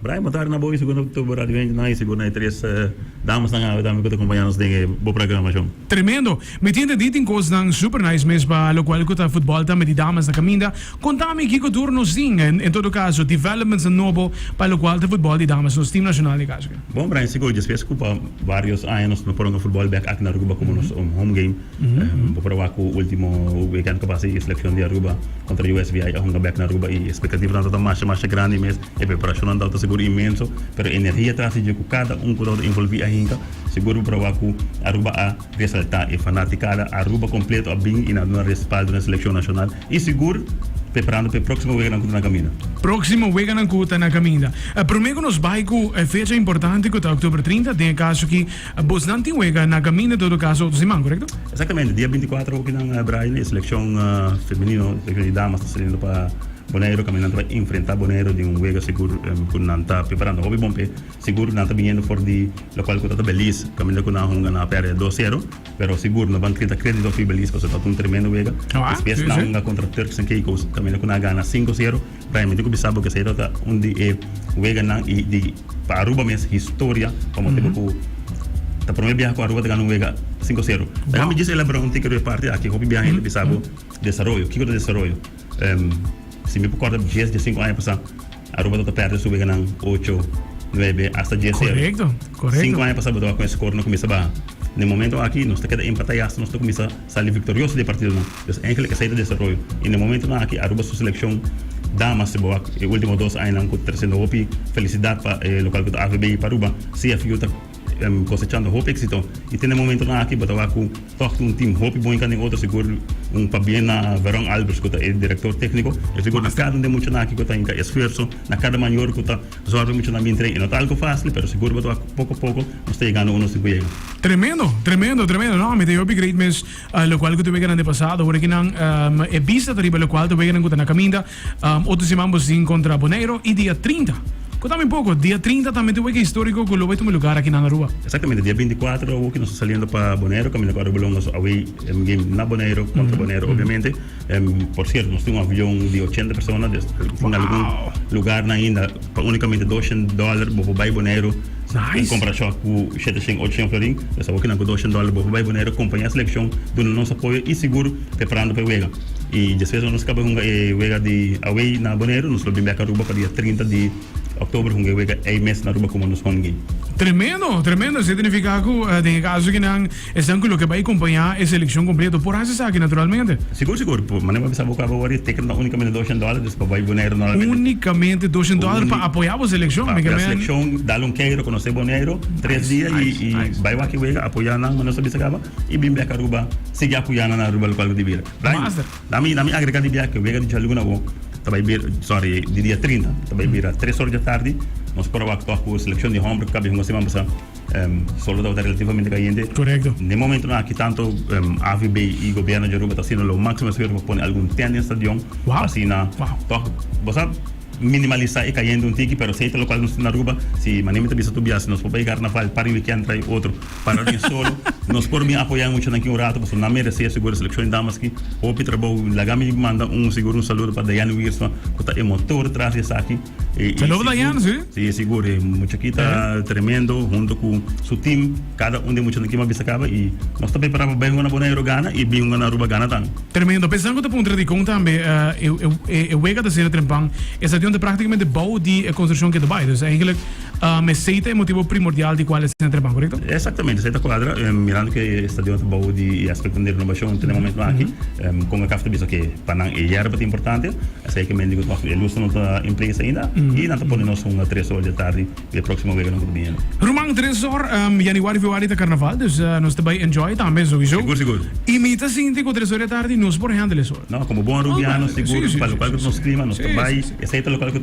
Brian, bo tarde na bo y segundo tur bo radio Angel Nice y bo na e tres damasnan awe tambe cu ta acompaña nos den e bo programacion. Tremendo! Mi tinta di tin cosnan super nice mes pa locual cu ta futbol tambe di damas na caminda. Conta mi kico tur nos tin, en todo caso, developments nobo pa locual ta futbol di damas, nos team nacional e caso aki. Bon, Brian, si cu despues cu pa varios aña nos no por hunga futbol bek aki na Aruba como nos home game, bo por a wak cu ultimo weekend cu a pasa y e seleccion di Aruba contra USVI a hunga bek na Aruba y expectativanan ta masha masha grandi mes. E preparacionnan tabata segur inmenso, pero energia tras di dje cu cada un cu tabata involvi ahinca, segur bo proba cu Aruba a resalta. E fanaticada Aruba completo a bin y nan duna respaldo na e seleccion nacional y segur preparando pa e proximo weganan cu ta na caminda. Proximo weganan cu ta na caminda. Prome cu nos bay cu e fecha importante cu ta octuber trinta, den e caso aki bosnan tin wega na caminda en todo caso otro siman, correcto? Exactamente, dia binti cuatro hopi nan bai na e seleccion femenino, seleccion di damas ta saliendo pa. Boneiru kaminda ta enfrentá Boneiru den un wega sigur ku nan ta preparando hopi bon p'e. Sigur nan ta biniendo for di lokual ku ta ta Belize kaminda ku nan a hunga nan a pèrdè dos sero pero sigur nan ban kere ta kredito fi Belize pasobra ta un tremendo wega. Despues nan a hunga kontra Turks and Caicos kaminda ku nan a gana sinku sero. Brian mi tin ku bisa bo ku esei ta ta un di e weganan i di pa Aruba mes historia pa motibu ku ta promé biaha ku Aruba ta gana un wega sinku sero. Laga mi djis elabora un tikeru e parti aki. Hopi biaha hende bisa bo desaroyo. Kiko ta desaroyo? Si mi por corda dies dia sinku aña pasa Aruba tabata perde su weganan ocho, nuebe hasta dies zero. Sinku aña pasa bo tabata cu e score na cuminsa baha. Na e momento aki nos ta keda empata y hasta nos ta cuminsa sali victorioso di e partidonan. Pues eigenlijk esey ta desaroyo. Y na e momentonan aki Aruba su seleccion damas si bo wak e ultimo dos añanan cu trece no hopi felicidad pa e local cu ta AVB y pa Aruba CFU ta. Em kosechando hopi éksito i tene momentonan aki bo ta wak ku tòg tin un tim hopi bon i ka den otro sigur un pabia na Veron Alberts ku ta e direktor tékniko i sigur na kada un den muchanan aki ku ta hinka esfuerso na kada mayor ku ta sòrbi e muchanan bin tren i no ta algu fásil pero sigur bo ta wak ku poko poko nos ta yegando uno si ku yega. Tremendo, tremendo, tremendo. No, mi ta hopi great mes lokual ku ta wega nan den pasado. Ora ki nan e bista ta riba lokual ta wega nan ku ta na kaminda. Otro siman bo sin contra Boneyro y dia trinta. Cu ta mi poco, dia trinta ta mete weke historico cu lo bay tuma lugar aki na Aruba. Exactamente dia binti cuatro ta hoki nos ta saliendo pa Boneyro caminda cu Aruba Longa su away game na Boneyro contra Boneyro obviamente. Por cierto nos tin un avion di ochenta persona den algun lugar nan ainda pa unicamente doshen dollar bo por bay Boneyro en comparacion cu shete shen ocho shen florin. Nos ta hoki nan cu doshen dollar bo por bay Boneyro. Compañia seleccion dunando nos apoyo y seguro preparando pa e wega. I despues ora nos kaba hunga e wega di away na Boneiru, nos lo bin bek Aruba pa dia trinta di oktober hunga e wega ei mes na Aruba komo nos hongi. Tremendo, tremendo. Esei ta nifiká ku den e kaso ki nan esnan ku lo ke bai kompañá e selekshon kompleto por hasi esaki naturalmente? Sigur, sigur. Por manera ku a bisa bo ku abo wòrdu e teken ta únikamente doshen dòler, dus pa bai Boneiru normalmente. Únikamente doshen dòler pa apoyá bo selekshon? Pa apoyá selekshon, dal un kei, rekonosé Boneiru tres dia i bai wak e wega, apoyá nan manera ku nos a bisa kaba. i bin biak Aruba, sigui apoyá nan Aruba local ku ta bira. Mas. Na mi, na mi agregá di biak, wega di djalgu na wòk, ta bai bira, sorry, di dia trinta, ta bai bira tres òr di atardi, nos por a wak tòg ku selekshon di hòmber ku kabia hunga siman pasá, solo tabata relativamente kayente. Korekto. Den e momentunan akí tantu AVB i gobièrnu di Aruba ta haciendo lo máximo esfuerzo pa pone algun tènt den stadion, pa asina tòg, bo sa, minimalisá e kayente un tiki, pero si ey ta lokal nos tin Aruba, si Manemi ta bisa tur biaha si nos por bai Garnaval, par e wikènt, trae otro. para di solo nos por bin apoya e muchanan ki un rato pasobra nan meresé sigur e selekshon di damas ki hopi trabou laga mi manda un sigur un saludo pa Dayane Wiersma ku ta e motor tras di esaki i sigur si e sigur e mucha ki ta tremendo hunto ku su tim kada un di e muchanan ki mas bisa kaba i nos ta prepará pa bai hunga na Bonaero gana i bin hunga na Aruba gana tambe. Tremendo pesan ku ta puntra di kon tambe e wega ta sera trempan e stadion ta praktikamente bou di e konstrukshon ke ta bai dus engelek. Um esei ta e motibo primordial di cual esei na trepá, corecto? Exactamente, esei ta cuadra mirando cu e stadion ta bao di e aspecto di renobacion te na momento aki. Um Concacaf ta bisa cu pa nan e yerba ta importante, esei ke men dico tok e luz ta no ta en place ainda y nan ta pone nos hunga tres or di e tardi di e proximo weganan cu ta bini anda. Ruman, tres or, um Januari, Februari ta Carnaval, dus nos ta bay enjoy tambe, sowiso. Sigur, sigur. Y mi ta sinti cu tres or di e tardi no es por handle esor. No, como bon Arubiano, sigur, pa local cu ta nos clima, nos ta bay. Esei ta local cu.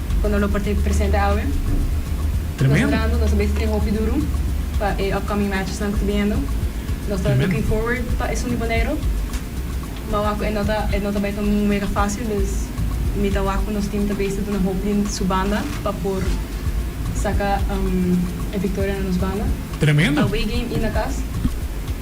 cu nos lo por ta presente awe. Nos orando, nos ta bay train hopi duru pa e upcoming matchesnan cu ta bihendo. Nos ta looking forward pa Esun di Boneiru. Ma wak cu e no ta, e no ta bay ta un mega facil, dus mi ta wak cu nos team ta besta duna hopi di su banda pa por saca e victoria na nos banda. Away game y na cas.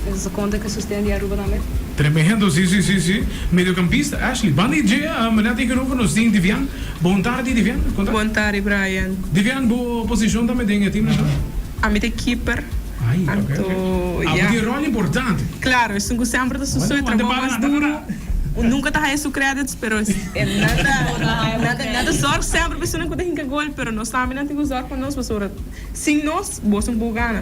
Nos a sa conta cu e sosten di Aruba tambe. Tremendo, si, si, si, si. Mediocampista, Ashley. Banda y dje, manatin cu nos tin Divian. Bon tardi Divian, konta? Bon tardi Brian. Divian, bo posishon ta me den e tim nacional? Ami ta e keeper. Ai, ok, ok. Anto, ya. Abo ta e ròl importante. Claro, esun ku semper ta su su e trabou mas duru. Un nunka ta haya su credits, pero nan ta zòrg semper pa esunnan ku ta hinka gol, pero nos tambe nan tin ku zòrg pa nos, pasobra sin nos bo su un pou gana.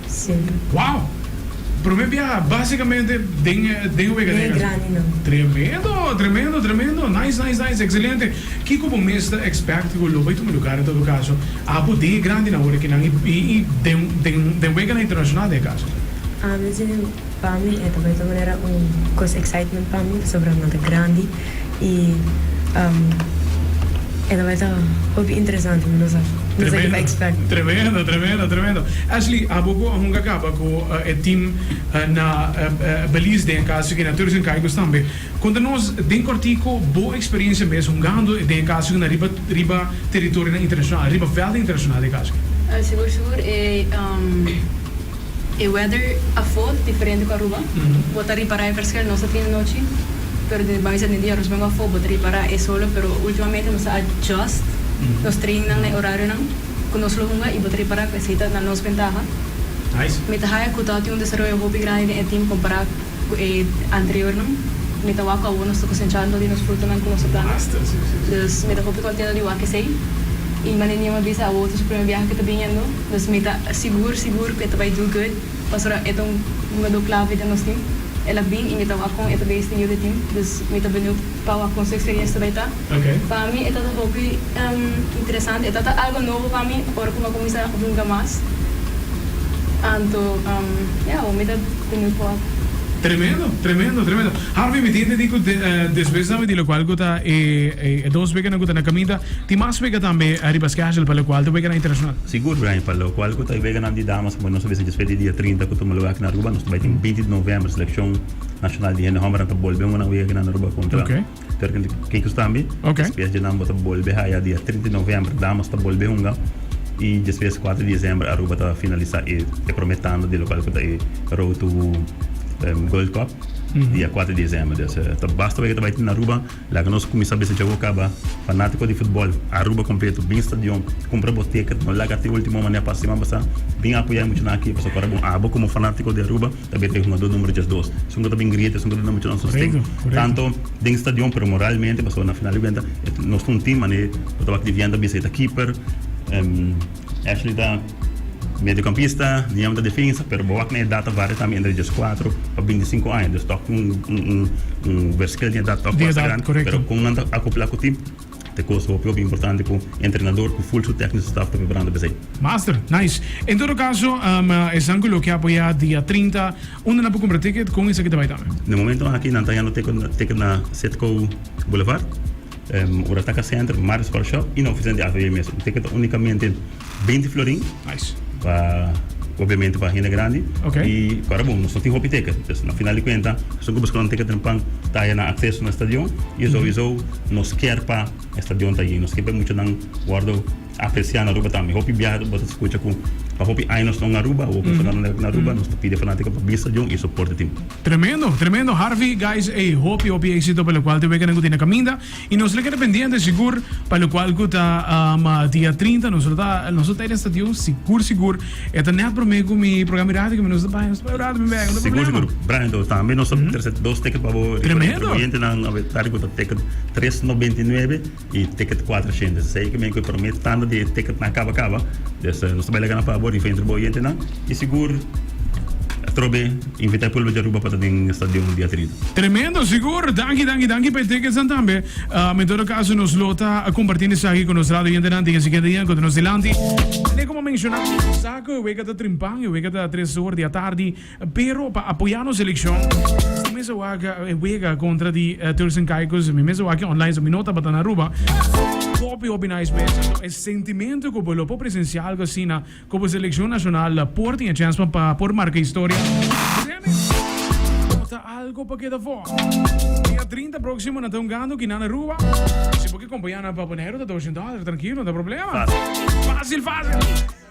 Sempri. Wow! Prome biaha basicamente den e den e wega den e grandi nan. Tremendo, tremendo, tremendo. Nice, nice, nice. Excelente. Kico bo mes ta expect cu lo bay tuma lugar en todo caso? Apo den e grandi nan ora ki nan y y den den den weganan internacional den e caso? Ami tin Pa mi e ta bay ta manera un cos excitement pa mi pasobra nan ta grandi y e ta bay ta hopi interesante mi no sa no sa kico expect. Tremendo, tremendo, tremendo. Ashley, abo cu a hunga caba cu e team na Belize den e caso aki na Turks and Caicos tambe. Conta nos den cortico bo experiencia mes hungando den e caso aki na riba riba teritorionan internacional, riba velden internacional den e caso aki. Sigur, sigur. E E weather a fot diferente cu Aruba. Bo ta ripara e verschil nos ta tin anochi pero den e base den dia nos mester a fot bo ta ripara e solo pero ultimamente nos a adjust nos trainingnan na e horarionan cu nos lo hunga y bo ta ripara cu esey ta na nos bentaha. Mi ta haya cu ta tin un desaroyo hopi grandi den e team compara cu e anteriornan. Mi ta wak cu awor nos ta cosencha anto di nos frutonan cu nos ta planta dus mi ta hopi contento di wak esey y manera Niño mi a bisa awor ta su primer biaha cu ta biniendo. Nos mi ta sigur sigur cu e ta bay do good, pasobra e ta un jugador clave den nos team. El a bin y mi ta wak con e ta bay este nieuw de team, dus mi ta benieuwd pa wak con su experiencia ta bay ta. Pa mi e ta ta hopi interesante, e ta ta algo nobo pa mi ora cu mi a cuminsa hunga mas. Anto ya awor mi ta benieuwd pa wak. Tremendo, tremendo, tremendo. Harvey, mi tin entendí cu despues dame di locual cu ta e dos bekenan cu ta na caminda, Tin mas wega tambe riba schedule pa lokual di weganan internashonal? Sigur, Brian, pa lokual ku ta e weganan di damas como nos a bisa djespet di dia trinta ku tuma luga aki na Aruba, nos ta bai tin binti di novèmber selekshon nashonal di hende hòmbernan ta bolbe un unan wega aki na Aruba kontra Turkey. Ke kusnan tambe djespes dje nan bo ta bolbe haya dia trinta di novèmber damas ta bolbe hunga i djespes kuater di desèmber Aruba ta finalisa e prome tanda di lokual ku ta e Road to Gold Cup dia kuater di desèmber. Des ta basta wega ta bai tin Aruba. Laga nos kuminsá bisa djogo kaba. Fanátiko di futbòl, Aruba kompletu, bin stadion, kumpra bo teket, no laga te último manera pa asina bo sa. Bin apoyá e muchanan akí, pasobra ora bon abo komo fanátiko di Aruba ta bira ta e hungadó número diesdos. Esun ku ta bin grieta, esun ku ta duna muchanan sosten, tantu den stadion pero moralmente, pasobra na final di kuenta nos ta un tim, mané lo tabata di Vian ta bisa e ta keeper, Ashley ta. Mediokampista, mi yama ta defensa, pero bo wak na edat ta varia tambe entre dies kuater pa binti sinku aña, dus tok tin un verskil den edat tok basta grandi, pero kon nan ta akopla ku tim, ta e kos hopi hopi importante ku entrenador ku ful su tekniso staf ta preparando p'esei. Master, nice. En todo kaso, esan ku lo ke apoyá dia trinta, unda nan por kumpra ticket, kon esaki ta bai tambe? Na e momentu aki nan ta yendo teken na Citgo Boulevard. Ora ta ka center, mar is coffee shop y na oficina di AVB mes. Tin ke ta unicamente 20 florin. Nice. Pa obviamente pa hende grandi. Ok. Y para bon, nos no tin hopi ticket. Pues na final di cuenta, persoan ku busca un ticket den pan ta haya nan acceso na stadion y souizo nos kier pa e stadion ta yin. Nos kier pa e muchanan wordo. A Christian na Aruba tambe. Hopi biaha bo ta scucha cu pa hopi aña nos ta un Aruba, hopi Fernando Nelk na Aruba, nos ta pidi fanatico pa bisa djon y soporte tin. Tremendo, tremendo Harvey, guys ey hopi hopi exito pa locual te weganan cu tin na caminda y nos na keda pendiente sigur pa locual cu ta um dia trinta nos lo ta nos lo ta ey den stadion sigur sigur e ta net prome cu mi programa di radio cu mi nos ta bay nos ta bay un rato mi bek no problema. Sigur sigur Brian to tambe nos ta trece dos ticket pa bo recuerda entre bo oyente nan a ver tarde cu ta ticket tres no binti nuebe. E ticket kuater shende esei ku bin ku e prome tanda di e ticketnan kaba kaba. Des nos ta bai laga nan pa bo riba entre bo gentenan i sigur atrobe invita e pulbe di Aruba pa ta den e stadion dia trinta. Tremendo, sigur. Danki, danki, danki pa e ticketsnan tambe. En todo kaso nos lo ta kompartiendo esaki ku nos radio gentenan den e siguiente dianan ku ta nos dilanti. Kuné komo a menshoná, nos sa ku e wega ta trimpan, e wega ta tres or di atardi. Pero pa apoya nos seleccion mi mester wak wega contra di Turks and Caicos mi mester wak online so mi no tabata na Aruba hopi hopi nice mester so e sentimento cu bo lo por presencia algo asina cu bo seleccion nacional por tin e chance pa por marca historia no ta algo pa keda for dia trinta proximo na ta un gando kina na Aruba si bo ki acompaña nan pa Bonaire ta dosciend dollar trankilo no ta problema facil facil.